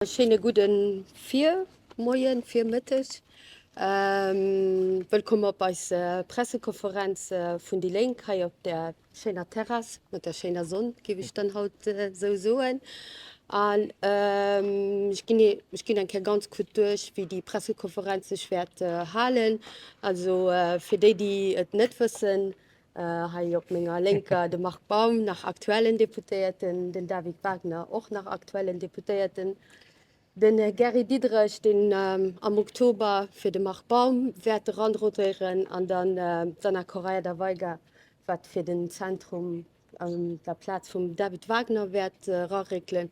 E schéine gudde Virmoien, Virmëtteg. Wëllkomm op eis Pressekonferenz vun déi Lénk hei op der schéiner Terrass, mat der schéiner Sonn, géif ech dann haut esou soen. An ech ginn, ech ginn eng Kéier ganz kuerz duerch, wéi déi Pressekonferenz sech wäert halen. Also fir déi, déi et net wëssen, Hei op menger Lénker de Marc Baum, nach aktuellen Deputéierten, den David Wagner, och nach aktuellen Deputéierten, den Här Gary Diderich, deen am Oktober fir de Marc Baum wäert eranrotéieren, an dann d'Anna Correia da Veiga, wat fir den Zentrum an der Plaz vum David Wagner wäert eraréckelen.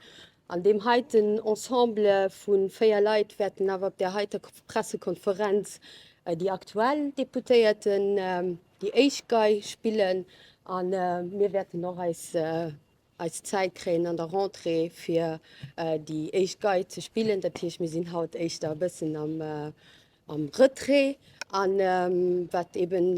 An deem heiten Ensemble vu véier Leit wäerten awer op där heiter Pressekonferenz déi aktuell Deputéierten déi éischt Gei spillen a mir wäerten och eis eis Zäit kréien an der Rentrée fir déi éischt Gei ze spillen. Dat heescht mir sinn haut éischter e bëssen am am Retrait a wat eben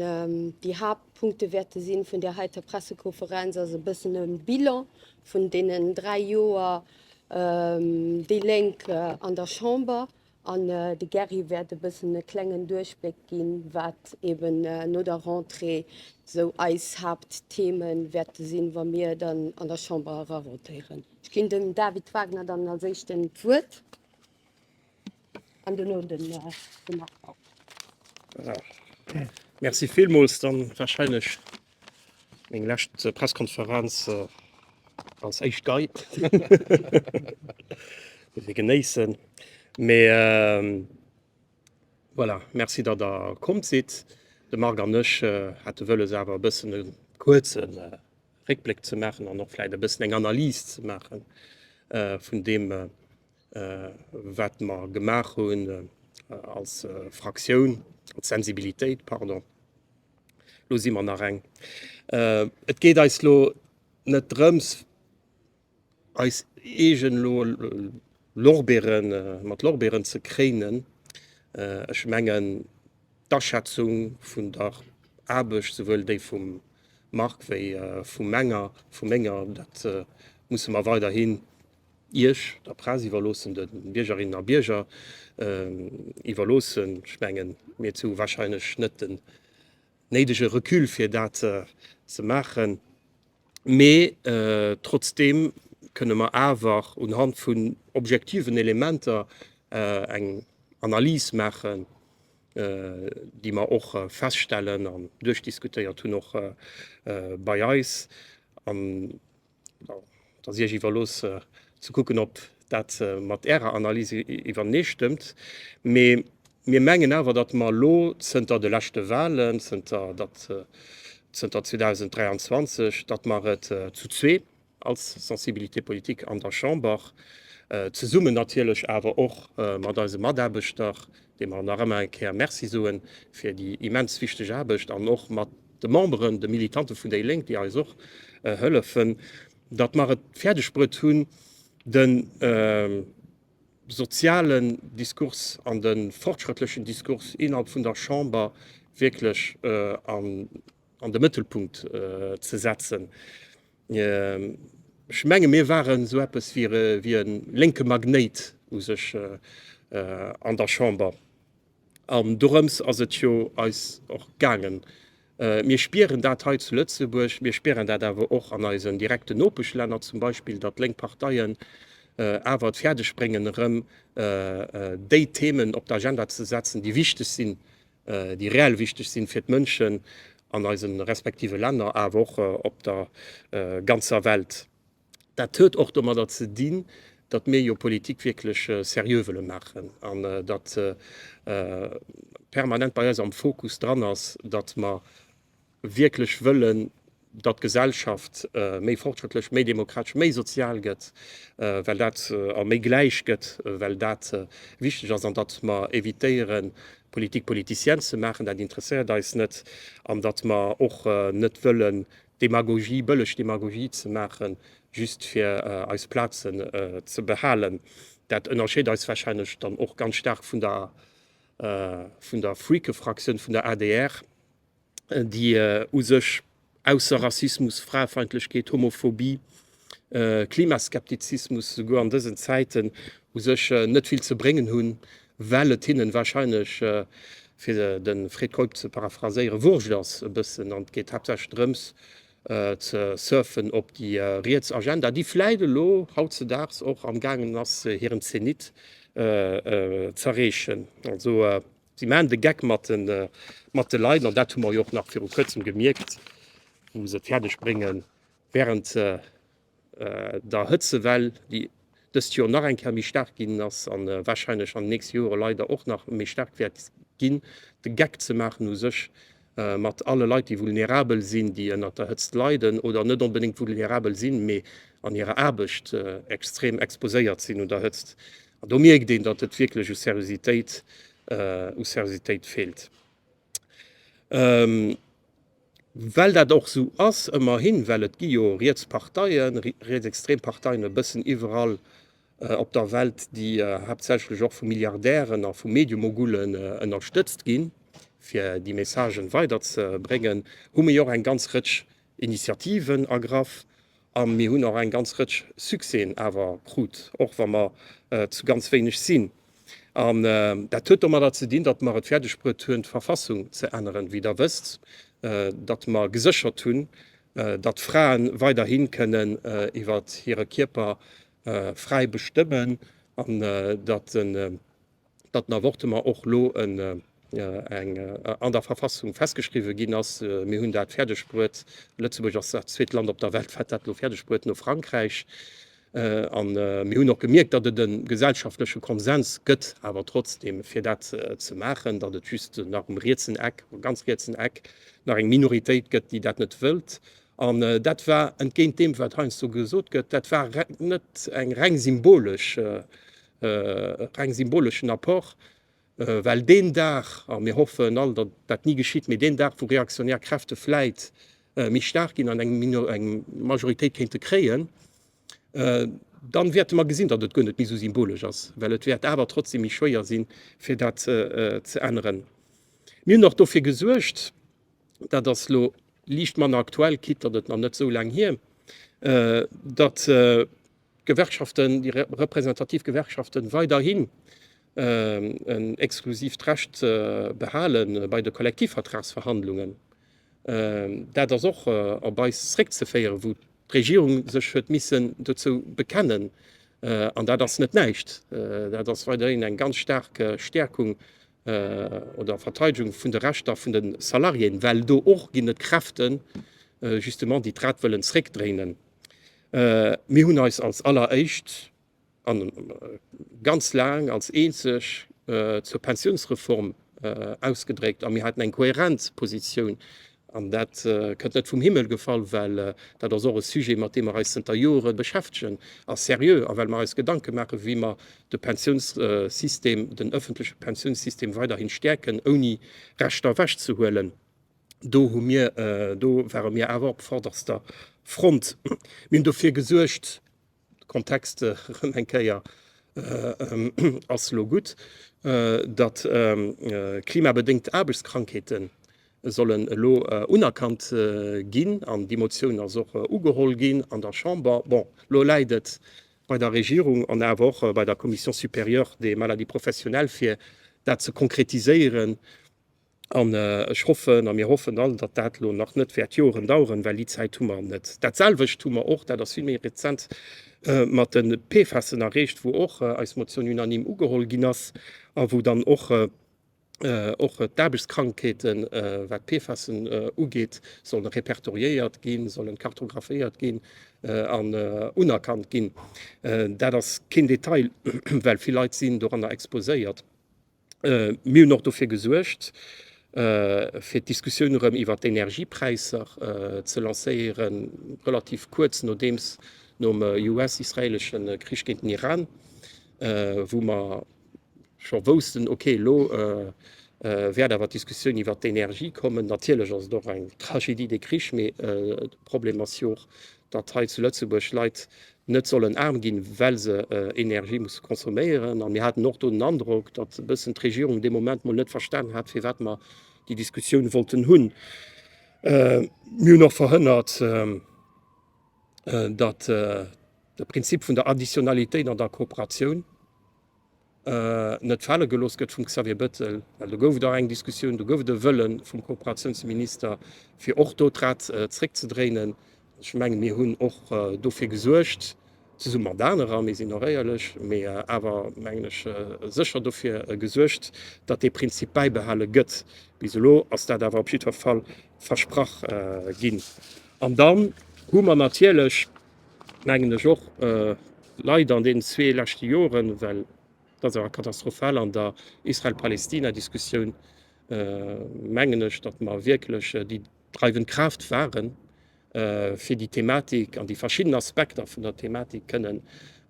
déi Haaptpunkte wäerte sinn vun där heiter Pressekonferenz ass e bëssen e Bilan vun deenen dräi Joer déi Lénk an der Chamber An de Gerry wäert e bëssen e klengen Duerchbléck ginn, wat eben no der Rentrée esou eis Haapttheme wäerte sinn, wa mir dann an der Chamber erarotéieren. Ech ginn dem David Wagner dann als Éischten d'Wuert an duerno dem Marc Baum. Merci villmools. Dann warscheinlech Meng lescht Presskonferenz als éischt Guide. Muss ee genéissen. Mee voilà, Merci, datt Der komm sidd. De Marc an ech hate wëlles awer e bëssen e kuerze Réckbléck ze maachen an och vläicht e bëssen eng Analys ze maachen vun deem, wat mer gemaach hunn als Fraktioun, als Sensibilitéit, pardon. Lo si mer nach eng. Et geet eis lo net drëms, eis eegen lo Lorbeeren, mat Lorbeeren ze kréinen. Ech mengen, d'Aschätzung vun der Aarbecht, souwuel déi vum Marc wéi vu menger, vu menger, dat musse mer weiderhi Iech, der Press, iwwerloossen, de Biergerinnen a Bierger iwwerloossen. Ech mengen, mir hu wahrscheinlech net den néidege Recul, fir dat ze maachen. Mee trotzdeem kënne mer awer unhand vun objektiven Elementer eng Analys maachen, déi mer och feststellen an duerchdiskutéiert hunn, och bei eis. Et ass Iech iwwerlooss ze kucken, ob dat mat Ärer Analys iwwereenee stëmmt. Mee mir mengen awer, datt mer elo zënter de leschte Wahlen, zënter 2023, datt mer et zu zwee als Sensibilité politique an der Chamber, zesummen natierlech awer och mat eise Mataarbechter, deem mer nach ëmmer eng Kéier Merci soe fir déi immens wichteg Aarbecht, an och mat de Memberen, de Militante vun déi Lénk, déi eis och hëllefen, datt mer et fäerdegbruet hunn, de sozialen Diskurs an de fortschrëttlechen Diskurs innerhalb vun der Chamber wierklech an de Mëttelpunkt ze setzen. Ech menge mir waren esou eppes wéi e lénke Magnéit u sech an der Chamber. An dorëms ass et jo eis och gaangen. Mir spieren dat hei zu Lëtzebuerg, mir spieren dat awer och an eisen direkten Nopeschlänner zum Beispill, datt lénk Parteien awer et fäerdegbréngen erëm déi Themen op d'Agenda ze setzen, déi wichteg sinn déi reell wichteg sinn fir d'Mënschen an eise respektive Länner, awer och op der ganzer Welt. Dat huet och domadder ze dinn, datt mir jo Politik wierklech seriö wëlle maachen an datt permanent bei eis am Fokus dran ass, datt mer wierklech wëllen, datt d'Gesellschaft méi fortschrëttlech, méi demokratesch, méi sozial gëtt, well dat a méi gläich gëtt, well dat wichteg ass, an datt mer évitéieren, Politique politicienne ze maachen, dat interesséiert eis net, an datt mer och net wëllen Demagogie, bëlleg Demagogie ze maachen, just fir eis Plazen ze behalen. Dat ënnerscheet eis warscheinlech dann och ganz staark vun der Freakefraktioun vun der adr. déi u sech ausser Rassismus, Fraefeindlechkeet, Homophobie, Klimaskeptizismus esouguer an dësen Zäiten u sech net vill ze bréngen hunn, well et hinnen wahrscheinlech, fir de Fred Keup ze paraphraséieren, wurscht ass e bëssen an et geet haaptsächlech drëms ze surfen op déi riets Agenda, déi vläit elo hautzedaags och amgaangen ass hiren Zenit z'erreechen. Si maachen de Geck mat de Leit, an dat hu mer jo och nach viru Kuerzem gemierkt, wou se et fäerdeg bréngen, wärend der Hëtzewell, déi dëst Joer nach eng Kéier méi staark ginn ass a warscheinlech an den nächste Jore leider och nach méi staark wäert ginn, de Geck ze maachen u sech, mat alle Leit, déi vulnerabel sinn, déi ënnert der Hëtzt leiden oder net onbedéngt vulnerabel sinn, mee an hirer Aarbecht extrem exposéiert sinn un der Hëtzt. An do mierkt een, datt et wierklech u Seriositéit, u Seriositéit feelt. Well dat och esou ass, ëmmerhin, well et gi jo riets Parteien, rietsextrem Parteien e bëssen iwwerall, op der Welt, déi haaptsächlech och vu Milliardären a vu Mediemogullen ënnerstëtzt ginn, fir déi Messagen weiderzebréngen, hu mir jo och eng ganz Rëtsch Initiativen ergraff a mir hunn och eng ganz Rëtsch Succèsen awer krut, och wa mer zu ganz wéineg sinn. An dat huet domadder ze dinn, datt mer et fäerdegbruet hunn, d'Verfassung ze änneren, wéi Der wësst, datt mer geséchert hunn, datt Frae weiderhi kënnen iwwert hire Kierper fräi bestëmmen an datt en Avortement och elo an der Verfassung festgeschriwwe ginn ass. Mir hunn dat fäerdegbruet, Lëtzebuerg ass dat zweet Land op der Welt, wat dat elo fäerdegbruet, no Frankräich. A mir hunn och gemierkt, datt et e gesellschaftleche Konsens gëtt awer trotzdeem, fir dat ze maachen, datt et just nach um rietsen Eck, um ganz rietsen Eck nach eng Minoritéit gëtt, déi dat net wëllt. An dat war, entgéint deem, wat heiansdo gesot gëtt, dat war net eng reng symbolesch, reng symboleschen Apport, well deen Dag, a mir hoffen all, datt dat ni geschitt, mee deen Dag, wou reaktionär Kräfte vläit méi staark ginn an eng eng Majoritéit kéinte kréien, dann wäerte mer gesinn, datt et guer net méi esou symbolesch ass, well et wäert awer trotzdem méi schwéier sinn, fir dat ze änneren. Mir hunn och dofir gesuergt, dat ass elo liicht manner aktuell, quitte datt et nach net esou laang hier ass, datt d'Gewerkschaften, déi representativ Gewerkschaften, weiderhin en exklusivt Recht behale bei de Kollektivvertragsverhandlungen. Dat ass och op eis zréckzeféieren, wou d'Regierung sech huet missen dozou bekennen, an dat ass net näischt. Dat ass weiderhin eng ganz staark Stäerkung oder Verteidegung vun de Rechter vun de Salariéen, well do och ginn et Kräften justement, déi d'Rad wëllen zréckdréinen. Mir hunn eis als alleréischt a ganz laang als eenzeg zur Pensiounsreform ausgedréckt a mir haten eng kohärent Positioun An dat kënnt net vum Himmel gefall, well dat ass och e Sujet, mat deem mer eis zënter Jore beschäftegen, a seriö, a well mer eis Gedanke maachen, wéi mer de Pensiounssystem, den öffentleche Pensiounssystem weiderhin stäerken, ouni Rechter ewechzehuelen. Do hu mir, do ware mir awer op vorderster Front. Mir hunn dofir gesuergt, de Kontext erëm eng Kéier ass elo gutt, datt klimabedéngt Aarbechtskrankheete sollen elo unerkannt ginn. An déi Motioun ass och ugeholl ginn an der Chamber. Bon, elo läit et bei der Regierung an awer och bei der Commission supérieure des maladies professionnelles, fir dat ze konkretiséieren. An ech hoffen, a mir hoffen all, datt dat elo nach net wäert Joren daueren, well déi Zäit hu mer net. Dat selwecht hu mer och, dat ass vill méi rezent, mat de PFASen erreecht, wou och eis Motioun unanime ugeholl ginn ass a wou dann och och d'Aarbechtskrankheeten, wat d'PFASen ugeet, solle repertoriéiert ginn, sollen kartographéiert ginn an unerkannt ginn. Dat ass keen Detail, well vill Leit sinn doranner exposéiert. Mir hunn och dofir gesuergt, fir d'Diskussioun erëm iwwert d'Energiepräisser ze lancéieren, relativ kuerz nodeems nom US-israeelesche Krich géint den Iran, wou mer scho woussten, ok, elo wäert awer d'Diskussioun iwwert d'Energie kommen. Natierlech ass et och eng Tragédie, dee Krich, mee de Problem ass jo och, datt hei zu Lëtzebuerg d'Leit net sollen aarm ginn, well se Energie musse consomméieren. A mir haten och do den Androck, datt e bëssen d'Regierung dee Moment mol net verstanen hat, firwat mer déi Diskussioun wollten hunn. Mir hunn och verhënnert, datt de Prinzip vun der Additionalitéit an der Kooperatioun, net fale gelooss gëtt vum Xavier Bettel, well do gouf et och eng Diskussioun, do gouf et e Wëlle vum Kooperatiounsminister, fir och do d'Rad zréckzedréinen. Ech menge mir hunn och dofir gesuergt, zesumme mat anerer, mir sinn och éierlech, mä awer mengen ech sécher dofir gesuergt, datt dee Prinzip bäibehale gëtt. Bis elo ass dat awer op jiddwer Fall versprach ginn. An dann hu mer natierlech, Mengen ech och. Leider an deenen zwee leschte Joren, well et ass awer katastrophal an der Israel-Palästina-Diskussioun, mengen ech, datt mer wierklech déi dreiwend Kraaft waren, fir déi Thematik an déi verschidden Aspekter vun der Thematik kënnen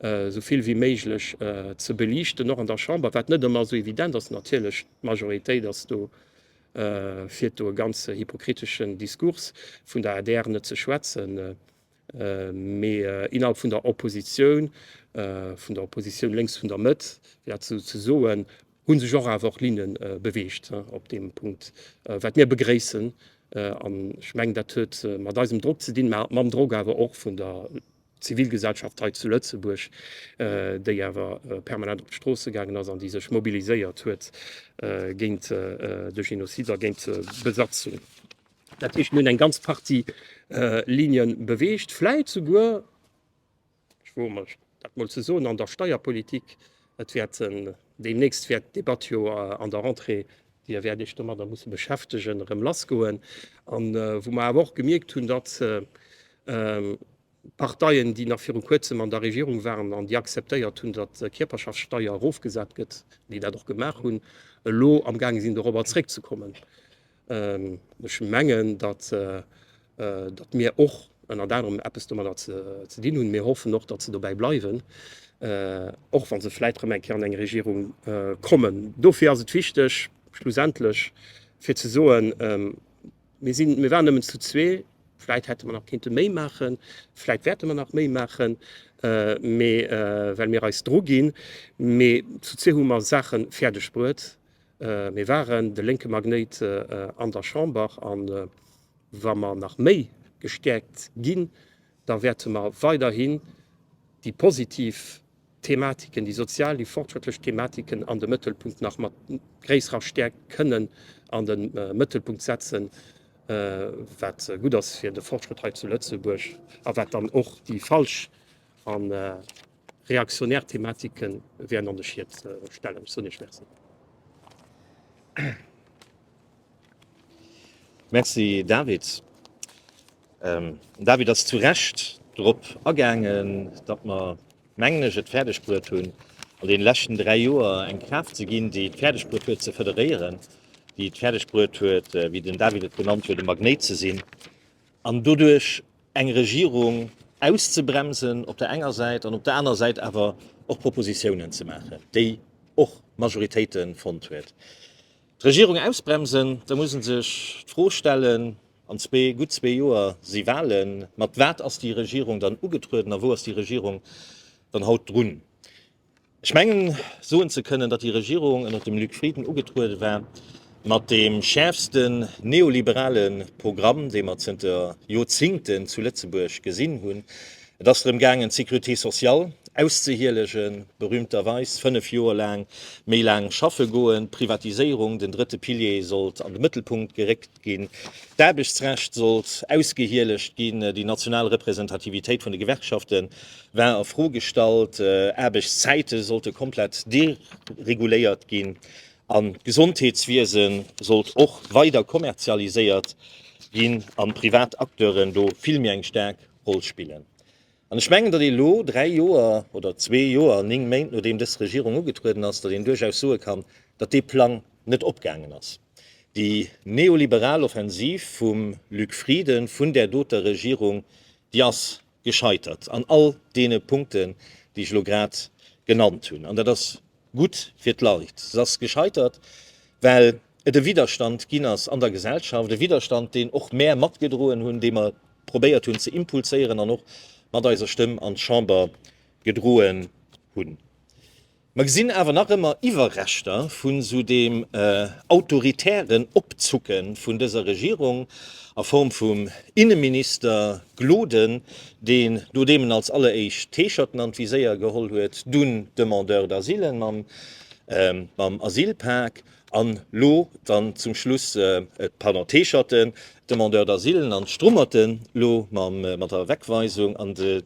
esou vill wéi méiglech ze beliichten, och an der Chamber, wat net ëmmer esou evident ass natierlech. D'Majoritéit ass do, fir do e ganze hypokriteschen Discours, vun der adr net ze schwätzen, Mee innerhalb vun der Oppositioun, vun der Oppositioun lénks vun der Mëtt, fir dat esou ze soen, hu sech och awer Linne beweegt op deem Punkt, wat mir begréissen. An ech mengen, dat huet mat eisem Drock ze dinn, mä mam Drock awer och vun der Zivilgesellschaft hei zu Lëtzebuerg, déi awer permanent op d'Stroosse gaangen ass an déi sech mobiliséiert huet géint de Genozid a géint d'Besatzung. Dat heescht, mir hunn eng ganz Partie Ligne beweegt, vläit souguer, ech woe mech dat mol ze soen, an der Steierpolitik. Et wäert deemnächst wäert d'Debatt jo an der Rentrée, Dir wäert Iech domadder musse beschäftegen, erëm lassgoen, wou mer awer och gemierkt hunn, datt D'Parteien, déi nach viru kuerzem an der Regierung waren an déi akzeptéiert hunn, datt d'Kierperschaftssteier erofgesat gëtt, déi dat och gemaach hunn, elo amgaange sinn dorobber zréckzekommen. Ech mengen, datt mir och ënnert anerem eppes domadder ze dinn hunn. Mir hoffen och, datt se dobäi bleiwen, och wa se vläicht erëm eng Kéier an eng Regierung kommen. Dofir ass et wichteg schlussendlech fir ze soen, Mir sinn, mir waren nëmmen zu zwee. Vläit hätte mer nach kinnte méi maachen, vläit wäerte mer nach méi maachen, mee well mir eis dru ginn. Mee zu zwee hu mer Saache fäerdeg bruet. Mir waren de lénke Magnéit an der Chamber a wa mer nach méi gestäerkt ginn, da wäerte mer weiderhin déi positiv Thematiken, déi sozial, déi fortschrëttlech Thematiken an de Mëttelpunkt, nach mat gréisserer Stäerkt kënnen an de Mëttelpunkt setzen, wat gutt ass fir de Fortschrëtt hei zu Lëtzebuerg a wat dann och déi falsch a reaktionär Thematike wären an de Schiet stellen. Ech soen Iech Merci. Merci, David. Den David ass zu Recht drop agaangen, datt mer, mengen ech, et fäerdegbruet hunn, an deene leschten dräi Joer eng Kraaft ze ginn, déi et fäerdegbruet huet ze federéieren, déi et fäerdegbruet huet, wéi den David et genannt huet, e Magnéit ze sinn an doduerch eng Regierung auszebremsen op der enger Säit an op der aner Säit awer och Propositiounen ze maachen, déi och Majoritéite fonnt huet. D'Regierung ausbremsen, da muss e sech d'Fro stellen, an zwee, gutt zwee Joer si Wahlen, mat wat ass déi Regierung dann ugetrueden a wou ass déi Regierung dann haut drun? Ech mengen soen ze kënnen, datt déi Regierung ënnert dem Luc Frieden ugetruede war mat deem schäerfsten neoliberale Programm, dee mer zënter Joerzingten zu Lëtzebuerg gesinn hunn, Et ass drëm gaangen, d'Sécurité sociale auszehielegen, berühmterweis 5 Joer laang méi laang schaffe goen, d'Privatiséierung, den drëtte Pilier sollt an de Mëttelpunkt geréckt ginn, d'Aarbechtsrecht sollt ausgehielegt ginn, déi national Representativitéit vun de Gewerkschafte war a Fro gestallt, Aarbechtszäite sollte komplett dereguléiert ginn an d'Gesondheetswiese sollt och weider kommerzialiséiert ginn an d'privat Acteuren do vill méi eng staark. Roll spillen. An ech mengen, datt ee lo, dräi Joer oder zwee Joer an néng Méint nodeem dës Regierung ugetrueden ass, datt een duerchaus soe kann, datt dee Plang net opgaangen ass. Déi neoliberal Offensiv vum Luc Frieden, vun där doter Regierung, déi ass gescheitert an all deene Punkten, déi ech elo grad genannt hunn. An dat ass gutt fir d'Leit. Se ass gescheitert, well et e Widerstand ginn ass an der Gesellschaft, e Widerstand, deen och mär matgedroen hunn, dee mer probéiert hunn ze impulséieren an och mat eiser Stëmm an d'Chamber gedroen hunn. Mer gesinn awer nach ëmmer Iwwerreschter vu sou deem autoritären Opzucke vun dëser Regierung a Form vum Inneminister Gloden, deen, nodeem en als alleréischt d'Heescherten an d'Viséier geholl huet, dunn d'Demandeurs d'asile mam Asylpak, An lo dann zum Schluss pardon d'Heescherten, d'Demandeurs d'asile an d'Strummerten lo mam mat der Wegweisung an de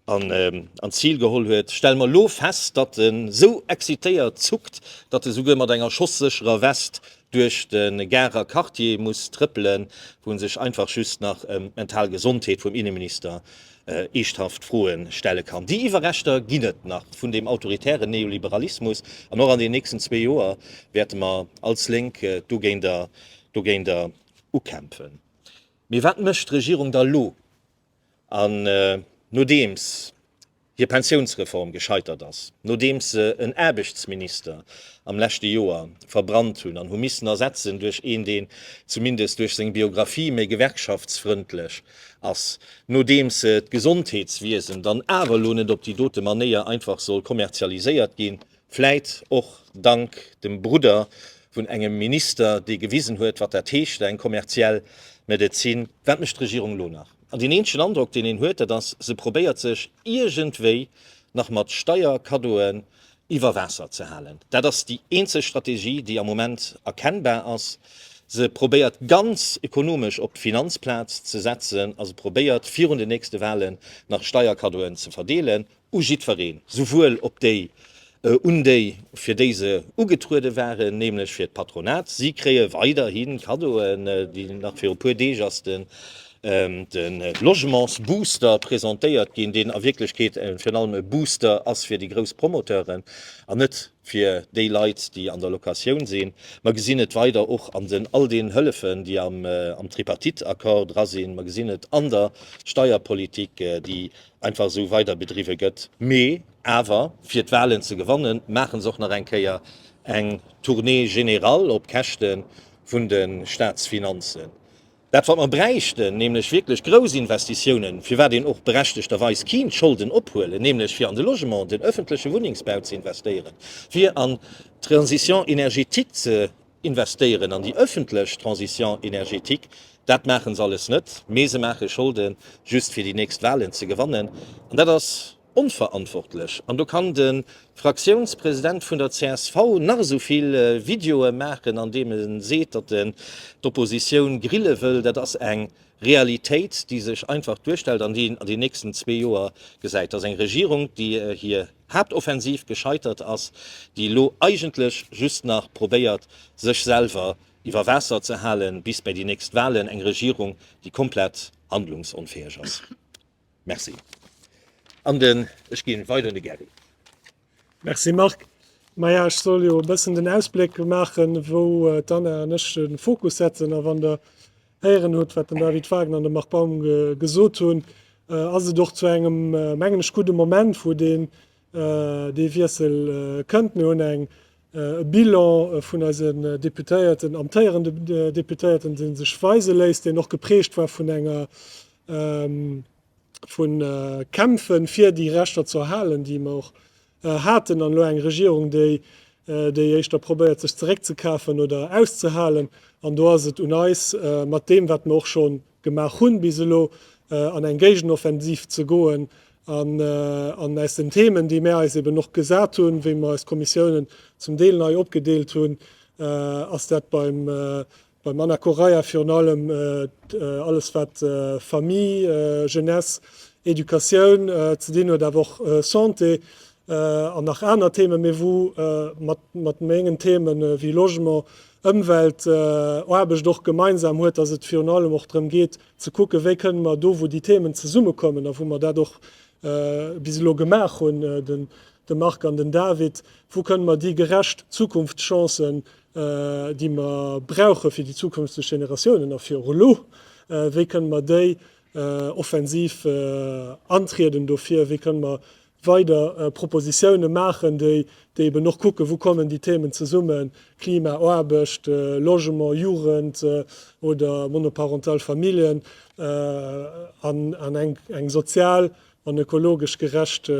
an an d'Zil geholl huet, stelle mer lo fest, datt en esou excitéiert zuckt, datt e souguer mat enger schosssécherer West duerch de Garer Quartier muss trëppelen, wou en sech einfach just nach ëm d'mental Gesondheet vum Inneminister eeschthaft Froe stelle kann. Déi Iwwerreschter ginn et nach vun deem autoritären Neoliberalismus, an och an den nächsten zwee Joer wäerte mer als Lénk dogéinter ukämpfen. Mee wat mécht d'Regierung da elo, nodeems hir Pensiounsreform gescheitert ass, nodeems se en Aarbechtsminister am leschte Joer verbrannt hunn an hu missen ersetzen duerch een, deen zumindest duerch seng Biografie méi gewerkschaftsfrëndlech ass, nodeems d'Gesondheetswiesen dann awer elo net op déi dote Manéier einfach soll kommerzialiséiert ginn, vläit och dank dem Brudder vun engem Minister, dee gewisen huet, wat dat heescht, eng kommerziell Medezin. Wat mécht d'Regierung elo nach? An deen eenzegen Androck, deen een huet, dat ass, se probéiert sech iergendwéi nach mat Steierkaddoe iwwer Waasser ze halen. Dat ass déi eenzeg Strategie, déi am Moment erkennbar ass. Se probéiert ganz ekonomesch op d'Finanzplaz ze setzen a se probéiert virun den nächste Wahlen nach Steierkaddoen ze verdeelen u jiddwereen, souwuel op déi, un déi, fir déi se ugetruede waren, nämlech fir d'Patronat. Si kréie weiderhi Kaddoen, nach viru puer Deeg ass de de Logementsbooster presentéiert ginn, deen a Wierklechkeet virun allem e Booster ass fir déi grouss Promoteuren an net fir déi Leit, déi an der Locatioun sinn. Mer gesinn et weider och an den all deenen Hëllefen, déi am Tripartite-Accord dra sinn. Mer gesinn et an der Steierpolitik, déi einfach esou weiderbedriwwe gëtt. Mee awer, fir d'Wahlen ze gewannen, maachen se och nach eng Kéier eng Tournée générale op Käschte vun de Staatsfinanzen. Dat wat mer bräichten, nämlech wierklech grouss Investitiounen, firwat een och berechtegterweis kinnt Scholden ophuelen, nämlech fir an de Logement, den öffentleche Wunnengsbau ze investéieren, fir an d'Transition énergétique ze investéieren, an déi öffentlech Transition énergétique, dat maache se alles net, mee se maache Scholden, just fir déi nächst Wahlen ze gewannen. An dat ass. Onverantwortlech. An do kann de Fraktiounspresident vun der csv nach esou vill Videoe maachen, an deem e seet, datt en d'Oppositioun grille wëll. Dat ass eng Realitéit, déi sech einfach duerstellt an déi een an den nächsten zwee Joer gesäit. Dat ass eng Regierung, déi hir Haaptoffensiv gescheitert ass, déi elo eigentlech just nach probéiert, sech selwer iwwer Waasser ze halen bis bei déi nächst Wahlen. Eng Regierung, déi komplett handlungsonfäeg ass. Merci. An den, ech ginn weider un de Gary. Merci Marc. Maja, ech soll jo e bëssen den Ausbléck maachen, wou d'Anna an ech de Fokus setzen. A wann Der héieren hutt, wat den David Wagner an de Marc Baum gesot hunn, ass et och zu engem, mengen ech, gudde Moment, wou dee Dee Wiessel kënnt, mir hunn eng Bilan vun eise Deputéierten, amtéierende Deputéierten, dee sech weise léisst, deen och geprägt war vun enger, vu Kämpfe fir déi Rechter ze erhalen, déi mer och haten, an elo eng Regierung, déi déi éischter probéiert sech zeréckzekafen oder auszehalen. An do ass et un eis, mat deem wat mer och schonn gemaach hunn, bis elo an eng Géigenoffensiv ze goen an aus den Themen, déi mär eis eben och gesat hunn, wéi mer eis Kommissiounen zum Deel nei opgedeelt hunn, ass dat beim Anna Correia virun allem alles, wat Famille, Jeunesse, Educatioun ze dinn huet, awer och Santé an nach aner Themen, mee wou mat mengen Themen wéi Logement, Ëmweltaarbecht och gemeinsam huet, datt et virun allem och drëm geet ze kucken, wéi kënnen mer do, wou déi Themen zesummekommen a wou mer dat och bis elo gemaach hunn, de Marc an den David, wou kënnen mer déi gerecht Zukunftschancen, déi mer brauche fir déi zukünfteg Generatiounen a fir och elo, wéi kënnen mer déi offensiv antrieden dofir, wéi kënnen mer weider Propositiounen maachen, déi eben och kucken, wou kommen déi Themen zesummen, Klima, Aarbecht, Logement, Jugend oder monoparental Familljen, an eng sozial an ökologesch gerecht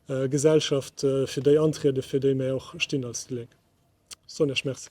Gesellschaft, fir déi antrieden, fir déi mir och stinn als déi Lénk. Ech soen Iech Merci.